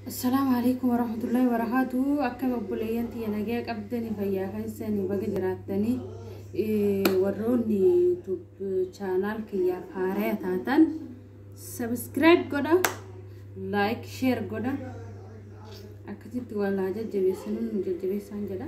Assalaamu alaikum warahmatullahi wabarakatuh. Akkam obboleeyyan tiyya nagaya qabdanii fayyaa keessanii baga jiraattanii warroonni YouTube chaanaal kiyyaaf haaraya taatan subscribe godha like share godha akkasitti walaa jajjabeessanuu nu jajjabeessaan jedha.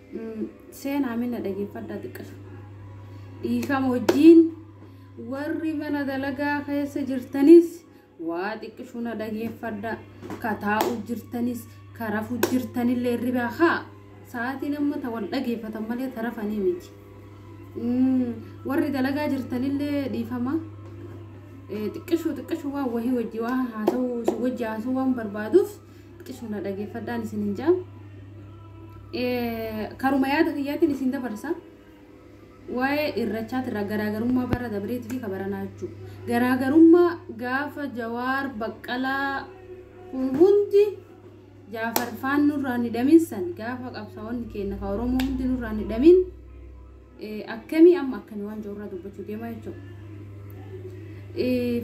Seenaa minna dhageeffadhaa xiqqashu. Dhiifama wajjiin warri mana dalagaa keessa jirtanis waa xiqqishu na dhageeffadhaa. Ka taa'u jirtanis ka rafu jirtanillee ribaa haa sa'aatiin amma ta wal dhageeffatan malee ta rafanii miti. Warri dalagaa jirtanillee dhiifama. Xiqqishu xiqqishu waan wahii wajji waan haasa'u si wajji haasa'u waan barbaaduuf. Xisu na dhageeffadhaan isin hin ja'a. Karuma yaada kiyyaatiin isin dabarsa. Waa'ee irrachaatirraa garaagarummaa bara dabreetii fi kabaranaa jechuudha. Garaagarummaa gaafa jawaar baqqalaa kun hundi jaafar faan nurraa ni dhaminsan gaafa qabsaa'onni keenya ka oromoo hundi nurraa ni dhamin akkamii amma akkamii waan jirurraa dubbachuu deemaa jechuudha.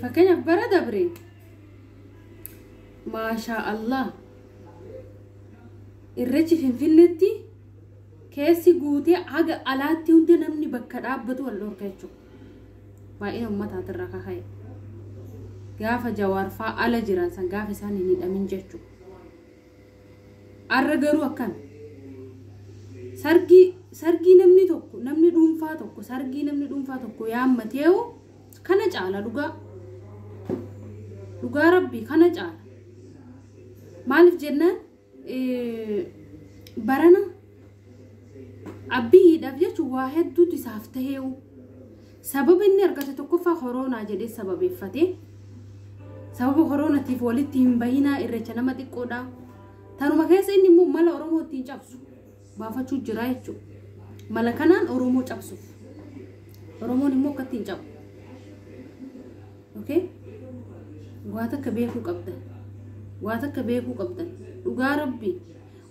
Fakkeenyaaf bara dabree Maashaa Allah. Irreechi Finfinneetti keessi guutee haga alaatti hunda namni bakka dhaabbatu wal dhorka jechuudha. Baay'ina ummataatirraa kaka'e. Gaafa jawaarfaa ala jiran san gaafa isaan hin hidhamin jechuudha. Arra garuu akkana. Sargii sargii namni tokko namni dhuunfaa tokko sargii namni dhuunfaa tokko yaammateewu kana caala dhugaa. Dhugaa rabbii kana caala. Maaliif jennaan eh, barana abbiyiidhaaf jechuun waa hedduutu isaaf ta'eewu. Sababa inni argate tokkoffaa koroonaa jedhee sababeeffate. Sababa koroonatiif walitti hin bahinaa irreecha nama xiqqoodha. Tanuma keessa inni immoo mala Oromoo ittiin cabsu baafachuu jira jechuudha. Mala kanaan Oromoo cabsuuf. Oromoon immoo akka ittiin cabu. Okay? Waa takka beekuu qabdan. Waa takka beekuu qabdan. Dhugaa rabbi.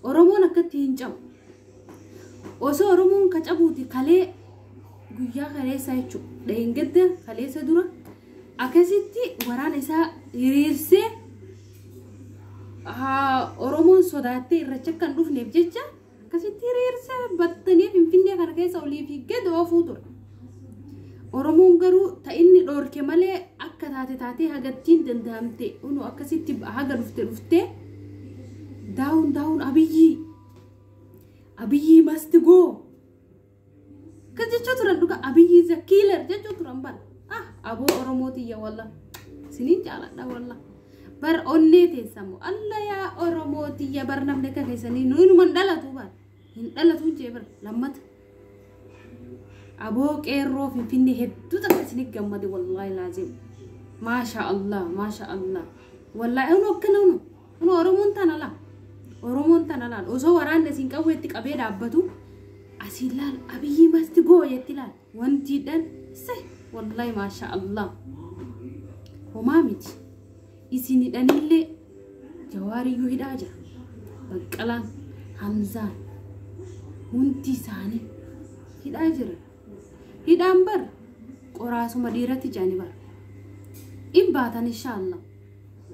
Oromoon akka ittiin cabu. Osoo Oromoon ka cabuuti kalee guyyaa kaleessaa jechu dheengadda kaleessa dura akkasitti waraana isaa hiriirsee Oromoon sodaattee irracha akka hin dhufneef jecha akkasitti hiriirsee battanii finfinnee kana keessa olii fi gad oofuu ture. Oromoon garuu ta inni dhoorke malee akka taate taatee hagattiin danda'amte unu akkasitti haga dhufte dhuftee daawun daawun abiyyii Abiyyi must go. Kan jechaa turan dhuga Abiyyi is a killer jechaa turan bar. Ah aboo Oromoo tiyya walla. Sinin jaaladha walla. Bar onnee teessamu alla yaa Oromoo tiyya bar namni akka keessanii nuyi numan dhalatu bar. Hin dhalatu jee bar lammata. Aboo qeerroo finfinnee hedduu takka isinif gammade wallaahi laazim. Maasha Allah maasha Allah. Wallaahi unu akkana unu unu Oromoon tana laa. Oromoon tana laal osoo waraanni isin qawweetti qabee dhaabbatu asiin laal abiyyii masti goo jetti laal wantiidhaan se wallaahi maasha Allah. Homaa miti. Isin hidhaniillee jawaariyyuu hidhaa jira. Baqqalaan, Hamzaan hundi isaanii hidhaa jira. Hidhaan bar qoraasuma dhiiratti jedhani bar. In baatan inshaa Allah.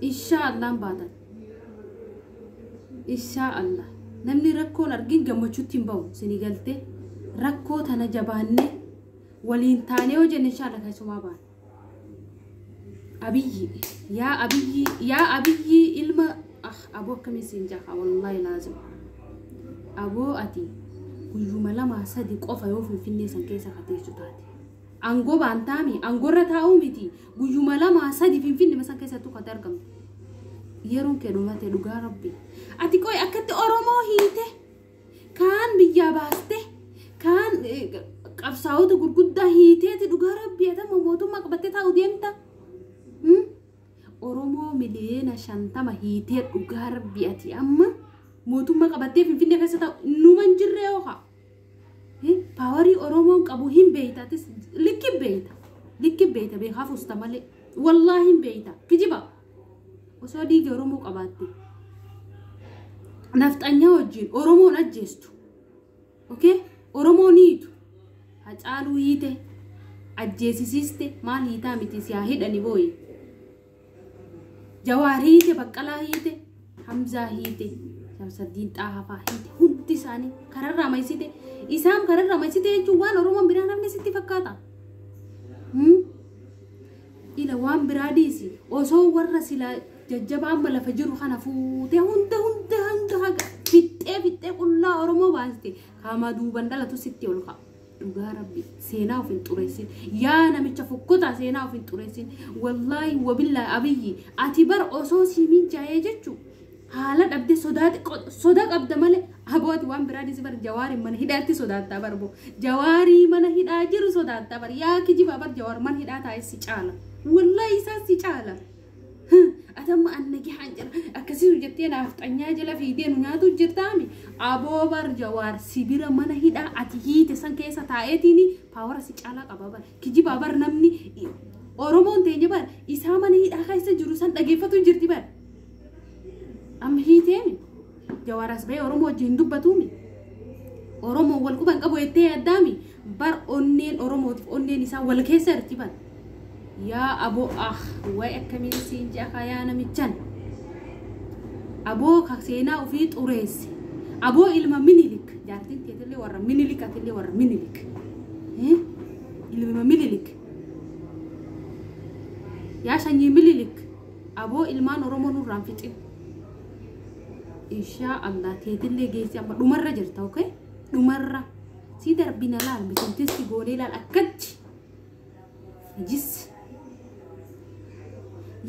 Inshaa Allah in baatan. Inshaa Allah. Namni rakkoon argin gammachuutti hin bahu isinii galtee rakkoo tana jabaannee waliin taanee hojjenne inshaa Allah keessumaa baana. Abiyyi yaa abiyyi yaa abiyyi ilma ah aboo akkamii siin jaha wallaahi laazim aboo ati guyyuma lama sadi qofa yoo finfinnee san keessa kateessu taate angoo baantaami angoorra taa'uu miti guyyuma lama sadi finfinnee san keessa tuqate argamtu yeroon kee dhumate dhugaa rabbi ati qoy akkatti oromoo hiite. kaan biyyaa baaste kaan qabsaa'ota gurguddaa hiiteeti dhugaa rabbii adama mootummaa qabattee taa'u deemta oromoo miliyoona shantama hiitee dhugaa rabbii ati amma mootummaa qabattee finfinnee keessa taa'u numan jirree hooka paawarii oromoon qabu hin beeyta likki beeyta likki beeyta beekaaf usta malee wallaahi hin beeyta kijiba osoo dhiigi Oromoo qabaatte nafxanyaa wajjin Oromoon ajjeestu. Okay? Oromoo ni hiitu. Hacaaluu hiite ajjeesisiiste maal hiitaa miti si haa hidhani booyi. Jawaar hiite baqqalaa hiite Hamzaa hiite Shamsaddiin Xaahafaa hiite hundi isaanii kararraa maysite isaan kararraa maysite jechuun waan Oromoon biraan hafne sitti fakkaata. Hmm? Ila waan biraa dhiisi osoo warra silaa jajjabaa amma lafa jiru kana fuutee hunda hunda hanga haga fixxee fixxee qullaa oromoo baaste kaamaa duuban dhalatu sitti ol ka'a. Dhugaa rabbi seenaa of hin xureessin yaa namicha fokkotaa seenaa of hin xureessin wallaahi wabillaahi abiyyi ati bar osoo sii mijaa'ee jechuu Haala dhabde sodaati soda qabda male abooti waan biraa dhisi bar jawaari mana hidhaatti sodaattaa bar bo jawaarii mana hidhaa jiru sodaattaa bar yaa kijiba bar jawaar mana hidhaa taa'e si caala wallahi isaa si caala atamma annagi haan jira akkasisu jettee naaf xanyaa jala fiidee nu nyaatu jirtaami aboo bar jawaar si bira mana hidhaa ati hiite san keessa taa'eetiini paawara si caalaa qaba bar kijiba bar namni oromoon teenya bar isaa mana hidhaa keessa jiru san dhageeffatu jirti bar Amma hiiteemi jawaaras ba'ee Oromoo wajjin hin dubbatuumi. Oromoo wal quban qabu jettee yaaddaami bar onneen Oromootiif onneen isaa wal keessa jirti bar. Yaa aboo ah waa'ee akkamiin siin ja'a kaa yaa namichan. Aboo ka seenaa ofii xureesse. Aboo ilma minilik jaartiin teetillee warra minilik atillee warra minilik. Eh? Ilma minilik. Yaa sanyii minilik. Aboo ilmaan oromoo nurraan fixin inshaa allah teetillee geessi amma dhumarra jirta ok dhumarra si darbina laal misiltin si goonee laal akkachi najis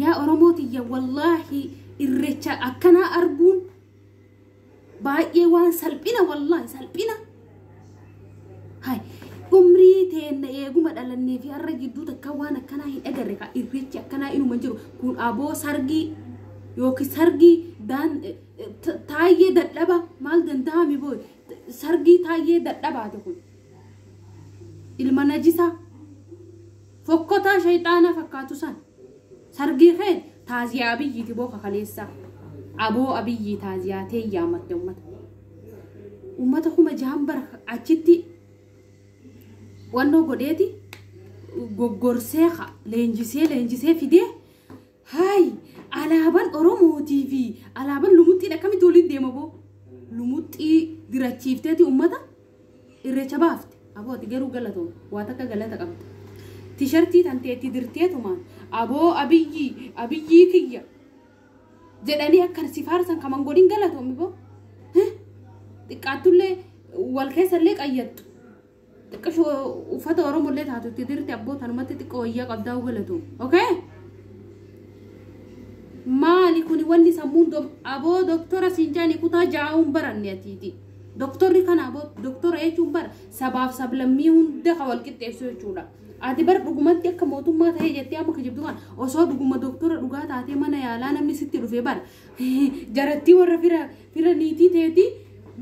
yaa oromoo tiyya wallaahi irrecha akkanaa arguun baay'ee waan salphina wallahi salphina hay umrii teenna eeguma dhalannee fi har'a gidduu takka waan akkanaa hin agarre ka irreechi akkanaa inuma hin jiru kun aboo sargii yookiin sargii daan taayyee dadhaba maal danda'ami boo sargii taayyee dadhabaate kun ilma najisaa fokkotaa shayxaanaa fakkaatu san Sargii kee taaziyaa abiyyiiti boo ka kaleessaa. Aboo abiyyii taaziyaa tee yaamatte ummata. Ummata kuma jahan bar achitti wannoo godheeti goggorsee ka leenjisee leenjisee fidee haayi alaaban oromootii fi alaaban lumuxxiin akkamitti walitti deema boo lumuxxii dirachiifteeti ummata Irreecha baafte aboo ati garuu galatoom waa takka galata qabda tishartii tantee itti dirteetumaan aboo abiyyii abiyyii kiyya jedhanii akkan si faarsan kaman godhin galatoomi boo Heh, xiqqaattullee wal keessallee qayyattu xiqqasho uffata oromollee taatu itti dirte abboo tanumatti xiqqoo wayyaa qabdaa galatoomi okay maali kuni wanni sammuun dom aboo doktora siin jaanii kutaa jaa'uun baranne atiiti Doktorri kana boo doktora jechuun bar sabaaf sablammii hunda kan wal qixxeessu jechuudha. Ati bar dhugumatti akka mootummaa ta'ee jettee amma kijibdu kana osoo dhuguma doktora dhugaa taatee mana yaalaa namni sitti dhufe bar jarattii warra fira fira niitii teetii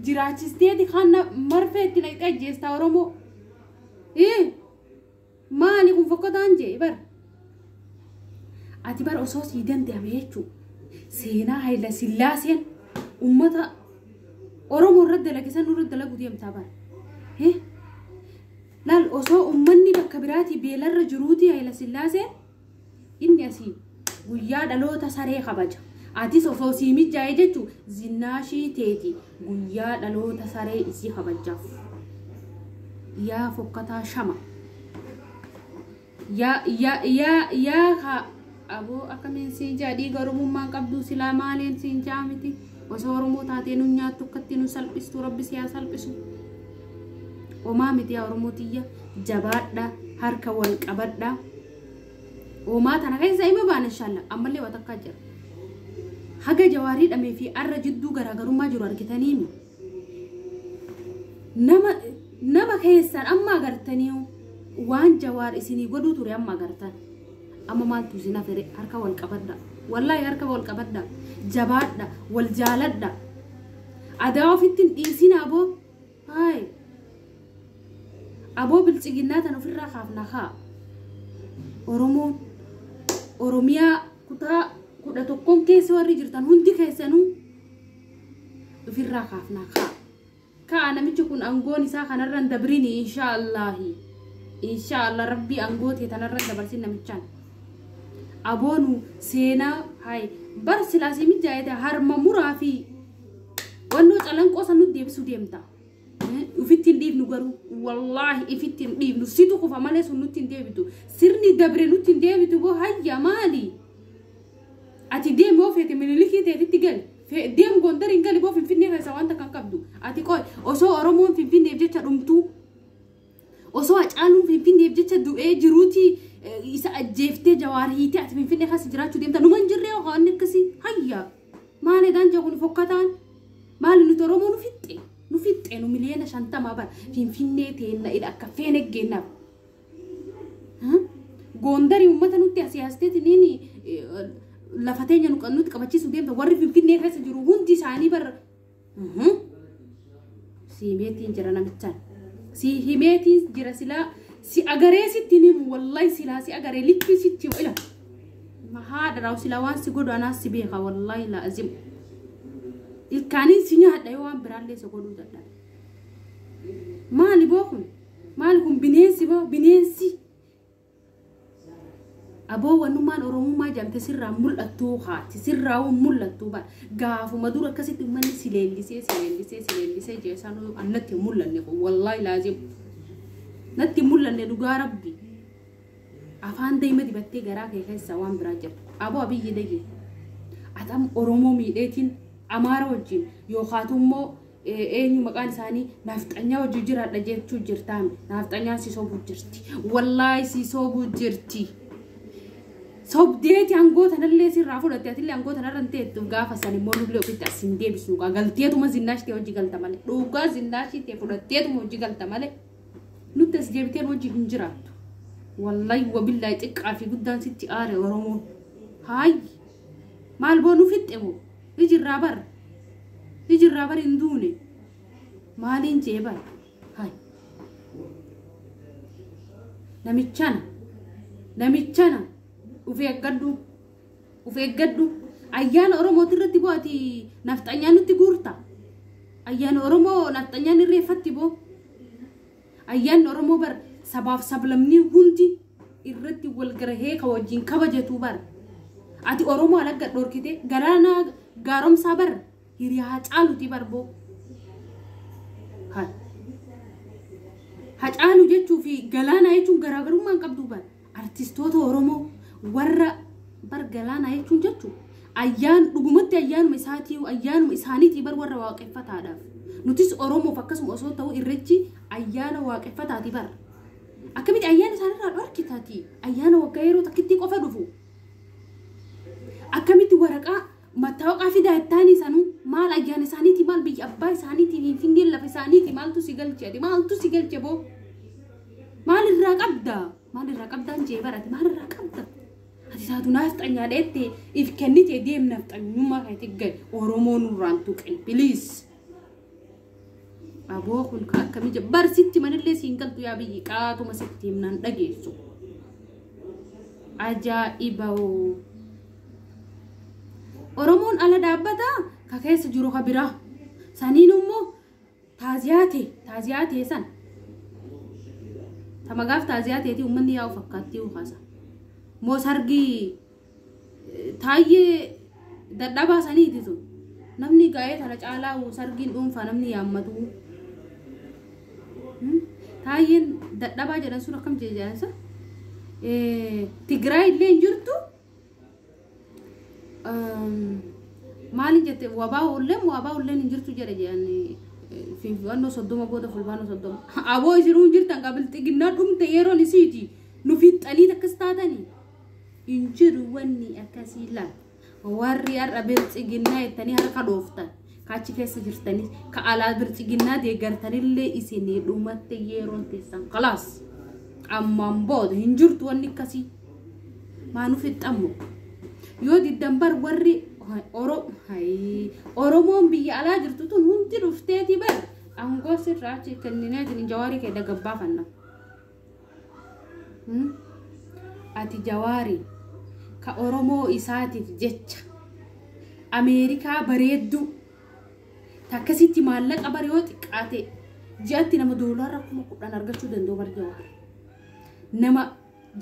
jiraachisteeti kan marfee itti naqxee ajjeestaa Oromoo. Ii! Maali kun fokkotaan jee bar. Ati bar osoo sii danda'ame jechuu seenaa Hayila Sillaaseen uummata Oromoo irra dalage san nurra dalagu deemtaa bar. Eh? Laal osoo uummanni bakka biraatii beelarra jiruuti Hayila Sillaaseen Inni asii guyyaa dhaloota saree kabaja. Atis osoo sii mijjaa'e jechu zinnaashii teeti guyyaa dhaloota saree isii kabajjaaf. Yaa fokkataa shama. Yaa yaa yaa yaa ka aboo akkamiin siin jaa dhiiga oromummaan qabduu silaa maaliin siin jaa miti osoo oromoo taatee nu nyaattu akkatti nu salphistu rabbi siyaa salphisu. Omaa midiyaa Oromoo tiyya jabaadha harka wal qabadha. Omaa tana keessa ima baana inshallah ammallee waa takkaa jira. Haga jawaarii dhamee fi arra jidduu garaagarummaa jiru argitanii mi? Nama nama keessan amma agartanii waan jawaar isinii godhuu ture amma agartan. Amma maaltu isin hafere harka wal qabadha. Wallaahi harka wal qabadha. Jabaadha wal jaaladha. Adaa ofitti hin dhiisinaa boo. Hi. Aboo bilchiginnaa tan ofirraa kaafna kaa. Oromoon. Oromiyaa kutaa kudha tokkoon keessa warri jirtan hundi keessanuu ofirraa kaafna kaa. Kaa namichi kun angoon isaa kanarra hin dabrini inshaa Allaahi. Inshaa Allah rabbii angoo tee tanarra hin dabarsin namichaan. Aboonu seenaa hayi bar silaasii mijaa'ete harma muraa fi Wannoo calanqoo san nu deebisuu deemta. Ufitti hin dhiifnu garuu wallaahi ifitti hin dhiifnu situ kufa malee sun nutti hin deebitu. Sirni dabre nutti hin deebitu boo hayya maali? Ati deemi yoo feete minilikii teetitti gali. Deem gondar hin gali boo finfinnee keessa wanta kan qabdu. Ati qoy osoo Oromoon finfinneef jecha dhumtuu. Osoo hacaaluun finfinneef jecha du'ee jiruuti isa ajjeeftee jawaar hiitee ati finfinnee keessa jiraachuu deemta. Numan jirree waan akkasii hayya. Maali ganja kun fokkataan? Maali nuti Oromoo nu fixxe? Nu fixxe nu miliyoona shantamaa bara finfinnee teenna ila akka feene geennaaf. Goondarii uummata nutti asii hasteeti niini lafa teenya nu nutti qabachiisu deemta warri finfinnee keessa jiru hundi isaanii bara Mhm. Sii himeetiin jira namichaan. Sii himeetiin jira silaa si agaree sitti hin himu wallahi silaa si agaree likkii sitti ila. Mahaa dharaawu silaa waan si godhu anaas si beeka wallahi laazim. Ilkaaniin si nyaadha yoo waan biraallee isa godhuu dadhabe. Maali boo kun? Maali kun bineensi boo bineensi? aboo wanummaan oromummaa jamte sirraa mul'attuu kaati sirraa won mul'attuu bar gaafuma dura akkasitti ummanni si leellisee si leellisee si leellisee jeesaan annatti hin mul'anne kun wallaahi laazim natti hin mul'anne dhugaa rabbi afaan daa'ima dibattee garaa kee keessa waan biraa jirtu aboo abiyyi dayyee atam oromoo miidheetiin amaara wajjin yookaatu immoo Eenyu maqaan isaanii naafxanyaa wajjin jiraadha jechuu jirtaan naafxanyaan si sobuu jirti wallaahi si sobuu jirti sobdeeti aangoo tanallee sirraa fudhatte atillee aangoo tanarra hin teettu gaafa san immoo nullee ofitti as hin deebisnu gaa galteetuma zinnaashitee hojii galta malee dhugaa zinnaashitee fudhatteetuma hojii galta malee nutti as deebiteen hojii hin jiraattu wallaahi wabillaahi xiqqaa fi guddaan sitti aare oromoo haayi maal boonuu fixxe moo Iji irraa bar. Iji irraa bar hin duune. Maaliin jee bar. Hay. Namichana. Namichana. Uf eeggadhu. Uf eeggadhu. Ayyaana Oromooti irratti boo ati nafxanyaa nutti guurta. Ayyaana Oromoo nafxanyaan irreeffatti boo. Ayyaanni Oromoo bar sabaaf sablamnii hundi irratti wal garahee ka wajjin kabajatuu bar. Ati Oromoo alagga dhorkite galaanaa gaaromsaa bar hiriyaa caaluti bar boo. Hacaalu jechuu fi galaanaa jechuun garaagarummaa hin qabdu bar. Artistoota Oromoo warra bar galaanaa jechuun jechu ayyaan dhugumatti ayyaanuma isaatii ayyaanuma isaaniitii bar warra waaqeffataadhaaf. Nutis Oromoof akkasuma osoo ta'u irrechi ayyaana waaqeffataati bar. Akkamitti ayyaana isaanirraa dhorkitati ayyaana waggaa yeroo takkitti qofa dhufu. Akkamitti waraqaa Mattaawaqaa fidaa ittaanii sanuu maal ayyaana isaaniiti maal biyya abbaa isaaniiti finfinneen lafa isaaniiti maaltu si galche ati maaltu si galche boo maal irraa qabda maal irraa qabdaan jee barate maal irraa qabda ati taatu naafxanyaa dheette if kennite deem naafxanyummaa keetti gad oromoo nurraan tuqin biliis. Aboo kun ka akkamii jira. Bar sitti manillee siin galtu yaa biyyi qaatuma sitti himnaan dhageessu. Ajaa'ibawoo. Oromoon ala dhaabbata ka keessa jiru ka biraa. Saniin immoo taaziyaate taaziyaate san. Tamagaaf taaziyaatee ti uummanni yaa'u fakkaattii ukaasa. Moo sargii taayyee dadhabaa saniiti sun namni gaa'ee tana caalaa sargiin dhuunfaa namni yaammatu Hmm? taayyeen dadhabaa jedhan sun akkam jeejaansa tigraay illee hin jirtu Ehm, maalin jette wabaa ulleen wabaa ulleen hin jirtu jedhe jedhan finfinnoo soddoma booda fulbaanoo soddoma aboo isinuu hin jirtan qabilxiginnaa dhumte yeroon isiiti nu fixxanii takkas taatanii hin jiru wanni akkasii la warri har'a biltsiginnaa jettanii harka dhooftan ka achi keessa jirtanii ka alaa biltsiginnaa deeggartanillee isinii dhumatte yeroon teessan kalaas ammaan booda hin jirtu wanni akkasii maanuu fixxammo yoo diddan bar warri oro hayii oromoon biyya alaa jirtu tun hundi dhufteeti bar aangoo sirraa achi kenninee jawaarii kee dagabbaafanna. Hmm? Ati jawaari ka Oromoo isaatiif jecha Ameerikaa bareedduu takkasitti maallaqa bar yoo xiqqaate ji'atti nama doolaara kuma kudhan argachuu danda'u bar jawaar. Nama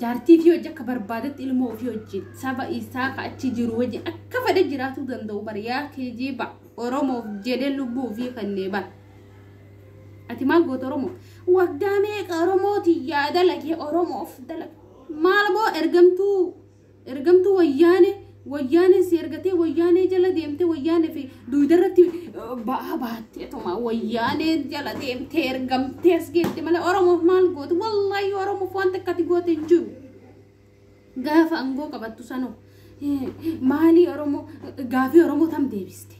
jaartii fi hojii akka barbaadetti ilmoo ofii wajjin saba isaa ka achi jiru wajjin akka fedhe jiraatuu danda'u bar yaa keejiiba Oromoof jedhee lubbuu ofii kennee bar. Ati maal goote Oromoo? Waggaa meeqa Oromootiin yaa dalage Oromoof dalage. Maal boo ergamtuu ergamtuu wayyaane wayyaanee si ergatee wayyaanee jala deemte wayyaanee fi duuda irratti ba'aa baatte tuma wayyaanee jala deemte ergamtee as geette malee Oromoof maal goote? Wallaahi Oromoof waan takka ati goote hin jiru. Gaafa angoo qabattu sanoo maalii Oromoo gaafii Oromoo tam deebiste?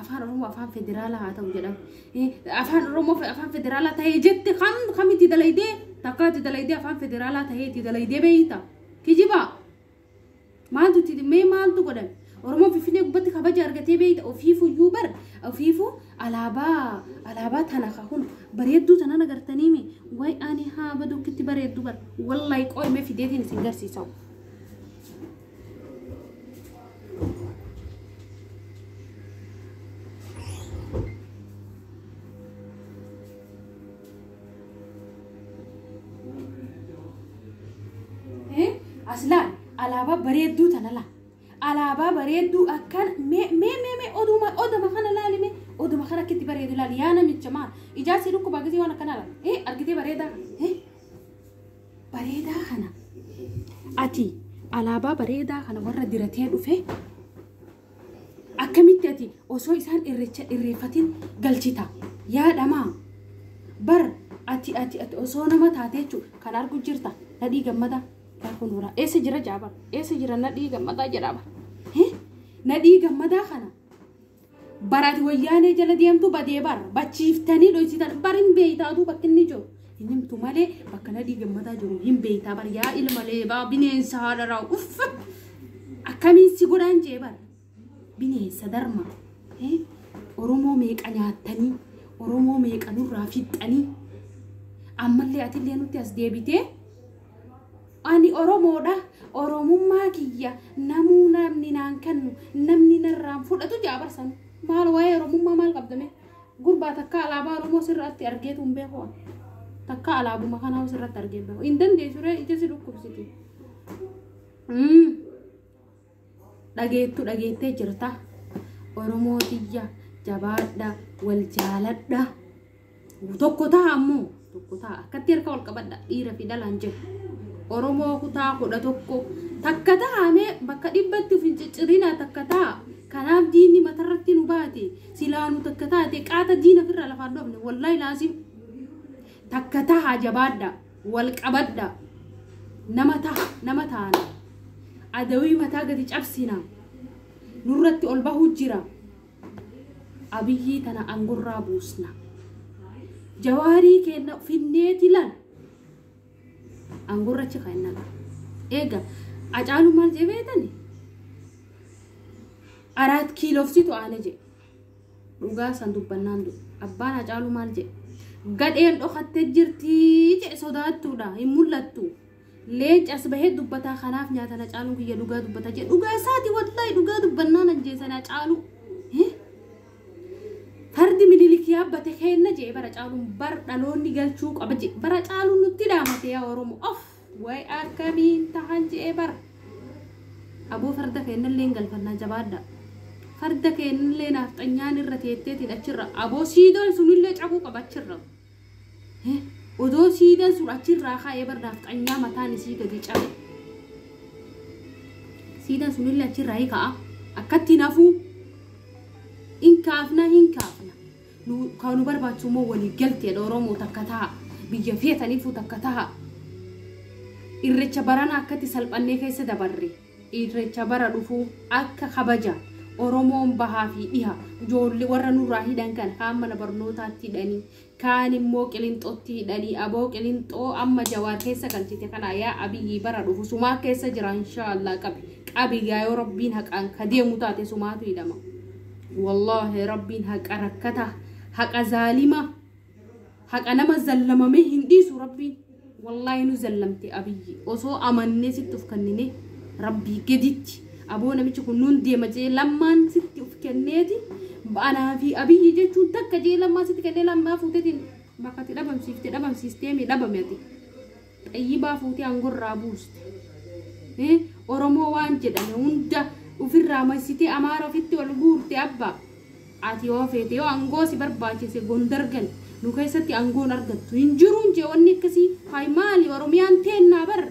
Afaan Oromoo afaan federaalaa haa ta'u jedhame. Afaan Oromoo afaan federaalaa ta'ee jette kam kamitti dalaydee takkaatti dalaydee afaan federaalaa ta'eetti dalaydee beeyta. Kijibaa! Maaltu itti dhimmee maaltu godhan? Oromoon Finfinnee gubbatti kabaja argatee beeyta ofiifuu iyyuu bar ofiifuu alaabaa alaabaa tana kakun bareedduu tanan agartanii mi way ani haa baduu kitti bareeddu bar wallahi qoy mee fideetiin isin garsiisa. Eh, Aslaan alaabaa bareedduu tana laa. Alaabaa bareedduu akkan mee mee mee mee oduma oduma kana laali mee oduma kana akkitti bareedu laali yaa namicha maal ijaarsi dhukkuba gisee waan akkana laala. Eh argitee bareedaa kana. Eh bareedaa kana. Ati alaabaa bareedaa kana warra diratee dhufe Akkamitti ati osoo isaan irreecha irreeffatiin galchita? Yaadhamaa? Bar ati ati ati osoo nama taatee jechuun kan argu jirta nadhii gammadaa yaa kun horaa eessa jira jaaba eessa jira nadhii gammadaa jedhaa bar Hii? nadhii gammadaa kana barati wayyaanee jala deemtu badee bar bachiiftanii dhoysitan barin beeytaatu bakki inni jiru Hin himtu malee bakka nadhii gammadaa jiru hin beektaa bar yaa ilma leebaa bineensa haadharaa uff akkamiin si godhaan jee bar bineensa darma eh, oromoo meeqa nyaattanii oromoo meeqa nurraa fixxanii ammallee atillee nutti as deebitee ani oromoodha oromummaa kiyya namuu namni naan kennu namni narraan fudhatu jaabarsan maal waa'ee oromummaa maal qabdame Gurbaa takkaa alaabaa Oromoo sirratti argeetu hin beeku. Takkaa alaabuma kana hoo sirratti argee beeku. Hin dandeessu ree ija si dhukkubsiti. Mm. Dhageettu dhageettee jirta. Oromoo tiyya jabaadha wal jaaladha. Tokko taha ammoo. tokko ta'a akkatti harka wal qabadha dhiira fi dhalaan jedhu oromoo kutaa kudha tokko takka ta'amee bakka dhibbatti of hin ciccirina takka ta'a kanaaf diinni matarratti nu baate silaanu takka taate qaata diina firraa lafaan dhoofne wallaahi laasim takka taha jabaadha wal qabadha nama taha nama taana adawii mataa gadi cabsina nurratti ol bahuu jira Abiyii tana angorraa buusna. Jawaarii keenna finneeti lan angorra achi keenna qaba. Eega Acaalu maal jee beetani? Araat kiilofsitu aane jee. Dhugaa san dubbannaan du. Abbaan Acaalu maal jee? Gadheen dhokatte jirtii jee sodaattuudha hin mul'attu. Leenci as bahee dubbataa kanaaf nyaatan Hacaaluun kiyya dhugaa dubbata jedhe. Dhugaa isaati wallaahi dhugaa dubbannaan ajjeesan Hacaaluu. Eh? Fardi minilik yaabbate keenna jee bara Hacaaluun bar dhaloonni galchuu qaba jee bara Hacaaluun nutti dhaamate yaa Oromoo. Of way akkamiin tahan jee bara. Aboo farda keennallee hin galfannaa jabaadhaa. Farda keennallee naafxanyaan irra teetteetiin achirra aboo siidoon sunillee cabuu qaba achirra. Odoo siidaan sun achirraa ka'ee bar naafxanyaa mataan isii gadi cabe. Siidaan sunillee achirraa hi ka'a. Akkatti hin hafuu. Hin kaafna hin kaafna. Nu- Kan nu barbaachisu immoo walii galteedha Oromoo takka taha. Biyya feetaniifuu takka taha. Irrecha baranaa akkatti salphannee keessa dabarre. Irreecha bara dhufuu akka kabaja Oromoon bahaa fi dhiha ijoollee warra nurraa hidhan kana kaan mana barnootaatti hidhanii kaan immoo qilinxotti hidhanii aboo qilinxoo amma jawaar keessa galchite kanaa yaa abiyyi bara dhufu sumaa keessa jira inshaallah qabi qabi yaa yoo rabbiin haqaan ka deemu taate sumaatu hidhama wallaahi rabbiin haqa rakkata haqa zaalima haqa nama zallamamee hin dhiisu rabbiin wallaahi nu zallamte abiyyi osoo amannee sitti of kennine rabbii gaditti aboo namichi kun nuun deema jee lammaan sitti of kenneeti anaa fi abiyyi jechuun takka jee lammaa sitti kennee lammaa fuutetiin bakkatti dhabamsiifte dhabamsiisteemi dhabame ati Xayyibaa fuutee angorraa buuste. Hi oromoo waan jedhame hunda ufirraa maysitee amaara ofitti ol guurte abba ati yoo feete yoo angoo si barbaachise gondar gali nu keessatti angoon argattu hin jiruun jee wanni akkasii hay maali oromiyaan teennaa bar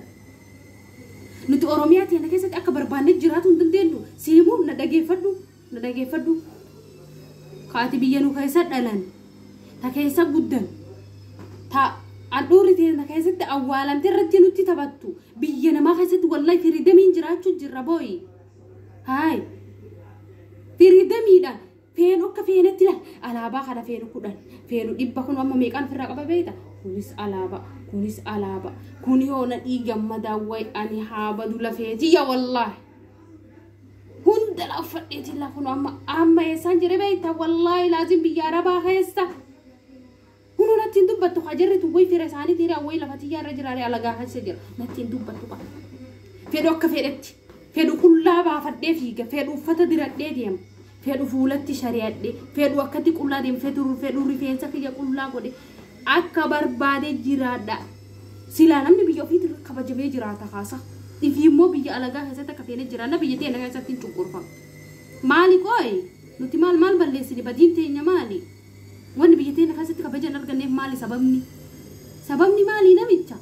nuti oromiyaa teenna keessatti akka barbaanne jiraatuu hin dandeennu si himu na dhageeffadhu Na dhageeffadhu. Ka ati biyya nu keessa dhalane, ta keessa guddan, ta handhuurri teenna keessatti awwaalamte irratti nutti taphattu. Biyya namaa keessatti wallahi firidamiin jiraachuu jirra booyi. Haay. Firidamiidha. Feenu akka feenetti la alaabaa kana feenu kudhan feenu dhibba kun amma meeqaan ofirraa qaba beeyta kunis alaabaa kunis alaabaa kun yoo na dhiigamma daawway ani haa badu lafeetiyya wallaahi. hunda la uffadhee jilla kun amma amma eessaan jire beekta wallaahi laaziin biyya arabaa keessa kun nattiin dubbattu ka jirritu way fira isaanii tiire awway lafa tiyyaa irra jiraare alagaa keessa jira nattiin dubbattu ka fedhu akka fedhetti fedhu qullaa baafadhee fiiga fedhu uffata diradhee deema fedhu fuulatti shari'adhe, fedhu akkatti qullaa deem, fedhu fedhu rifeensa kiyya qullaa godhe, akka barbaade jiraadha. Silaa namni biyya ofiitti irra kabajamee jiraata kaasa. Ifi immoo biyya alagaa keessatti akka feene jiraanna biyya teenya keessatti hin cunqurfamne. Maali qooyi? Nuti maal maal balleessine badiin teenya maali? Wanni biyya teenya keessatti kabaja hin arganneef maali sababni? Sababni maali namicha?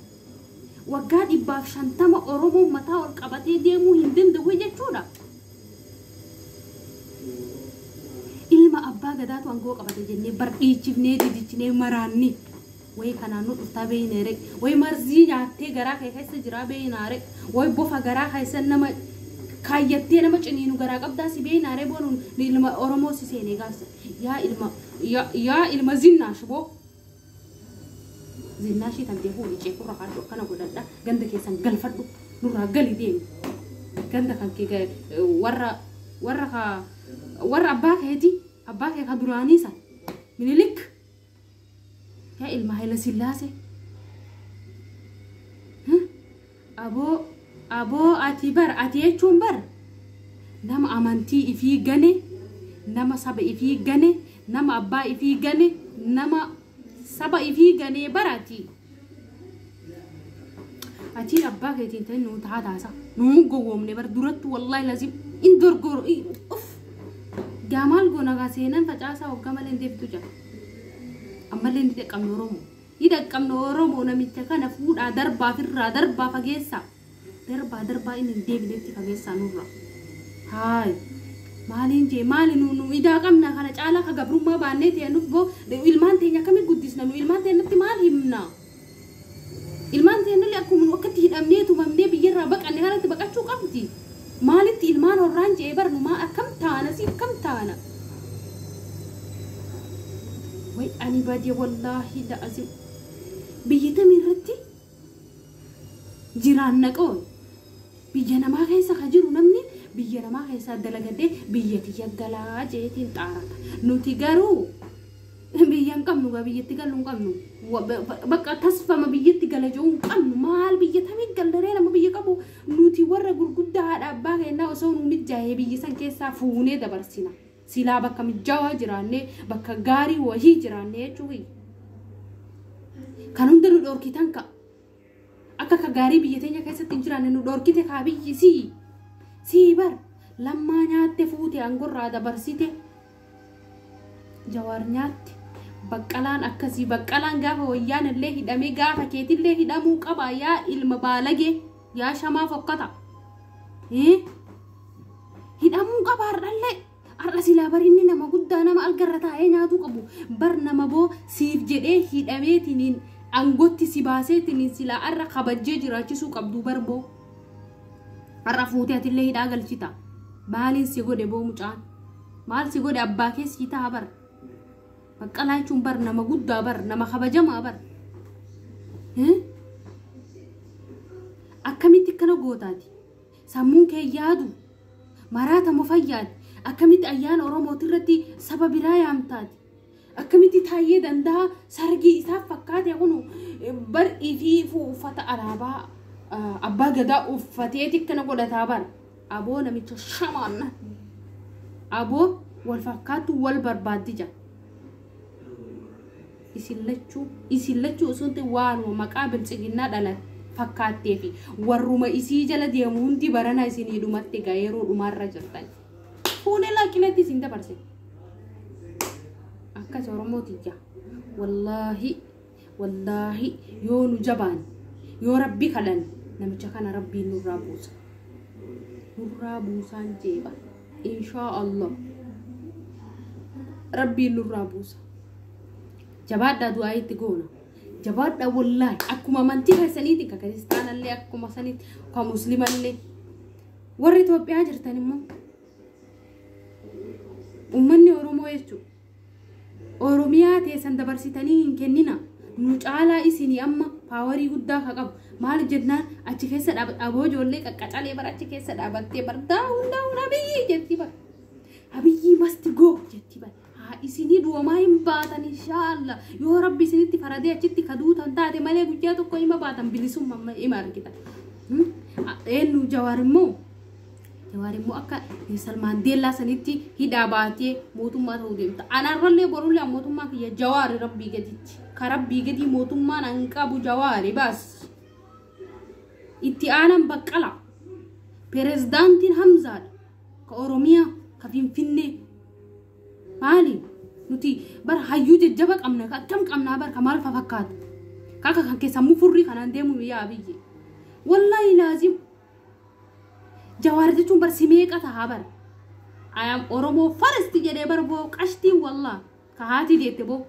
Waggaa dhibbaaf shantama Oromoon mataa ol qabatee deemuu hin danda'u jechuudha. Ilma abbaa gadaatu angoo qabate jennee bar dhiichifnee didichnee maraannii. Way kanaan nu dhuftaa beeynee ree. Way marzii nyaattee garaa kee keessa jiraa beeynaa ree. Way bofa garaa keessa nama kaayyattee nama ciniinu garaa qabdaa si beeynaa ree boonuun ilma Oromoo si seenee gaafsan. Yaa ilma yaa yaa ilma zinnaash boo. Zinnaashii tantee fuudhi ceekurra kaadhu akkana godhadha ganda keessan galfadhu nurraa gali deemi ganda kan kee ga- warra warra ka warra abbaa keeti abbaa kee ka duraanii san minilik yaa ilma hayila sillaasee Aboo Aboo ati bar ati jechuun bar nama amantii ifii gane nama saba ifii gane nama abbaa ifii gane nama saba ifii ganee bar ati atii abbaa keetiin ta'in nuu tahaa taasa nuu gowwoomne bar durattu wallahi lazim in dorgoro uff gaa maal goona gaa seenan facaasaa waggaa malee hin deebitu jaa ammallee hin xiqqamne oromoo Ni dhaqqabna oromoo namicha kana fuudhaa darbaa firraa darbaa fageessaa darbaa darbaa inni hin deebinetti fageessaa nurraa haay maaliin jee maali nu nu idaa qabna kana caalaa ka gabrummaa baannee ta'e nuf boo ilmaan teenya akkamitti guddisna nu ilmaan teenyatti maal himna ilmaan teennallee akkuma nu akkatti hidhamnee tumamnee biyyarraa baqanne kanatti baqachuu qabdi Maalitti ilmaan horraan je'e bar numaa akkam taana si akkam taana way ani bade wallaahi la'azim biyya tami irratti jiraanna qoy biyya namaa keessa ka jiru namni biyya namaa keessaa dalagadhee biyya tiyya galaa jeetiin xaarata nuti garuu biyya hin qabnu gaa biyyatti gallu hin qabnu Wa- ba- ba- bakka tasfama biyyatti gala je'uu hin qabnu maal biyya tamii gallaree nama biyya qabu Nuti warra gurguddaa haadha abbaa keennaa osoo nuu mijjaahee biyya san keessaa fuunee dabarsina. Silaa bakka mijjaawaa jiraannee, bakka gaarii wayii jiraannee jechuu kiyya. Kan hunda nu dhoorkitan ka. Akka ka gaarii biyya teenya keessatti hin jiraanne nu dhoorkite kaa biyyi sii. Sii bar lammaa nyaatte fuute aangorraa dabarsite. Jawaar nyaatti. Baqqalaan akkasii baqqalaan gaafa wayyaan illee hidhamee gaafa keetillee hidhamuu qaba yaa ilma baalagee yaa shamaa fokkata. Hii? Hidhamuu qaba har'allee. Har'a silaa bar inni nama guddaa nama algarra taa'ee nyaatuu qabu. Bar nama boo siif jedhee hidhameetiniin angootti si baaseetiniin silaa har'a kabajjee jiraachisuu qabdu bar boo. Har'a fuutee atillee hidhaa galchita. Maaliin si godhe boo mucaan? Maal si godhe abbaa kee sii ta'a bar. Baqqalaa jechuun bar nama guddaa bar nama kabajamaa bar. Eh? Akkamitti akkana gootaati? Sammuun kee yaadu maraatama fayyaati. Akkamitti ayyaana Oromootirratti saba biraa yaamtaati? Akkamitti Taayyee Dandahaa sargii isaa fakkaate kunu bar ifiifuu uffata alaabaa ah, abbaa gadaa uffateeti akkana godhataa bar. Aboo namicha shamaan aboo wal fakkaattu wal barbaaddi jira. Isin lachuu isin lachuu osoo hin ta'in waanuma maqaa biltsiginnaa dhalan fakkaattee fi warruma isii jala deemu hundi barana isinii dhumatti egaa yeroo dhumaarra jirtan. Fuunee laaqqileetti isin dabarse. Akkas Oromoo tiyya. Wallaahi, wallaahi yoo nu jabaan, yoo rabbi kadhan namicha kana rabbiin nurraa buusa. Nurraa buusaan jeeba. Inshaa Allah. Rabbiin nurraa buusa. Jabaadhaa du'aa itti goona. Jabaadhaa wallaahi akkuma amantii keessaniitiin ka kiristaanallee akkuma sanitti ka muslimallee. Warri Itoophiyaa jirtan immoo ummanni Oromoo jechuun Oromiyaa teessan dabarsitanii hin kennina. Nu caalaa isinii amma paawarii guddaa ka qabu. Maal jennaan achi keessa dhaaboo ijoollee qaqqacalee bara achi keessa dhaabattee bardaa hundaa hundaa biyyi jettii bara. Abiyyi masti goo jettii bara. haa isinii du'amaa hin baatan inshaallah yoo rabbi isinitti faradee achitti ka duutan taate malee guyyaa tokko hima baatan bilisumma amma hima argitan Hmm? A- eenyu jawaar immoo jawaar immoo akka Nelson Maandeellaa sanitti hidhaa baatee mootummaa ta'uu deemta anaarrallee borullee an mootummaa kiyya jawaari rabbii gaditti ka rabbii gadii mootummaan an qabu jawaari baas itti aanan baqqala pirezidaantiin hamzaadha ka oromiyaa ka finfinnee maali nuti bara hayyuu jajjaba qabna ka akkam qabnaa bara ka maal fa fakkaatu ka akka kan keessan mufurrii kanaan deemu yaa abiyyi wallaahi laazim jawaar jechuun bar si meeqa tahaa bar ayam oromoo farasti jedhee bar boo qashtiin wallaa ka haatii deette boo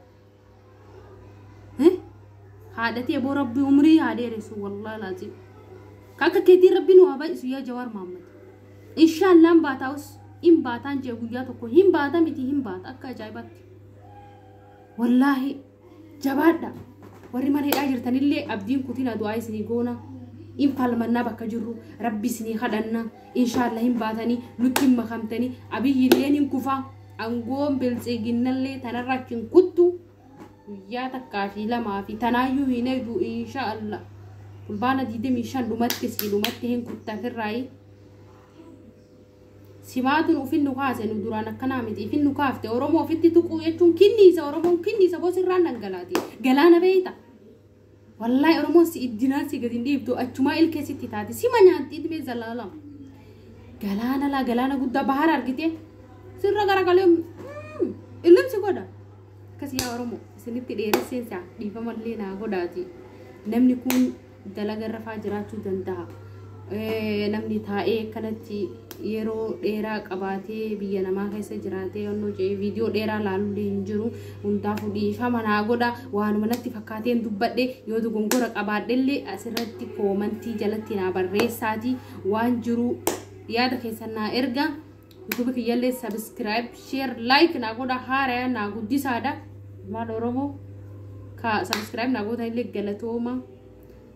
haadhatii aboo rabbii umrii haa dheeressu wallaa laazim kakka keetii rabbii nu haa baay'isu yaa jawaar maammad inshaallaan baataa'us hin baataan jee guyyaa tokko hin baata miti hin baata akka ajaa'ibaatti wallaahi jabaadha warri mana hidhaa jirtanillee abdiin kutina du'aa isinii goona in falmannaa bakka jirru rabbi isinii kadhanna inshaallah hin baatanii nutti hin makamtanii abiyyi illeen hin kufaa Angoon biltsiginnallee tanarra achi hin kuttu guyyaa takkaa fi lamaa fi tanaayyuu hin eegu insha Allah fulbaana 25 dhumatti sii dhumatti hin kutta firraayi simaatun ufin nu kaase nu duraan akkanaa miti ifin nu kaafte oromoo ofitti tuquu jechuun kinniisa oromoon kinniisa bosirraan dhangalaati galaana beeyta Wallahi Oromoon si iddinaan si gadi hin dhiiftu achumaa ilkee sitti taate sima nyaatti idmee zalaalam. Galaana laa galaana guddaa bahara argite sirra garagalee mm, illim si godha. Akkasii yaa Oromoo isinitti dheeresseen isaa dhiifamallee naa godhaati. Namni kun dalaga rafaa jiraachuu danda'a. namni taa'ee akkanatti yeroo dheeraa qabaatee biyya namaa keessa jiraatee onnoo jee viidiyoo dheeraa laalullee hin jiru hundaa fudhii fama naa godha waanuma natti fakkaateen dubbadhe yoo dogongora qabaadhellee asirratti koomantii jalatti naa barreessaatii waan jiru yaada keessan naa erga yutubi kiyyallee sabiskiraayib sheer laayik naa godha haaraya naa guddisaadha maal oromoo ka sabiskiraayib naa gootanillee galatooma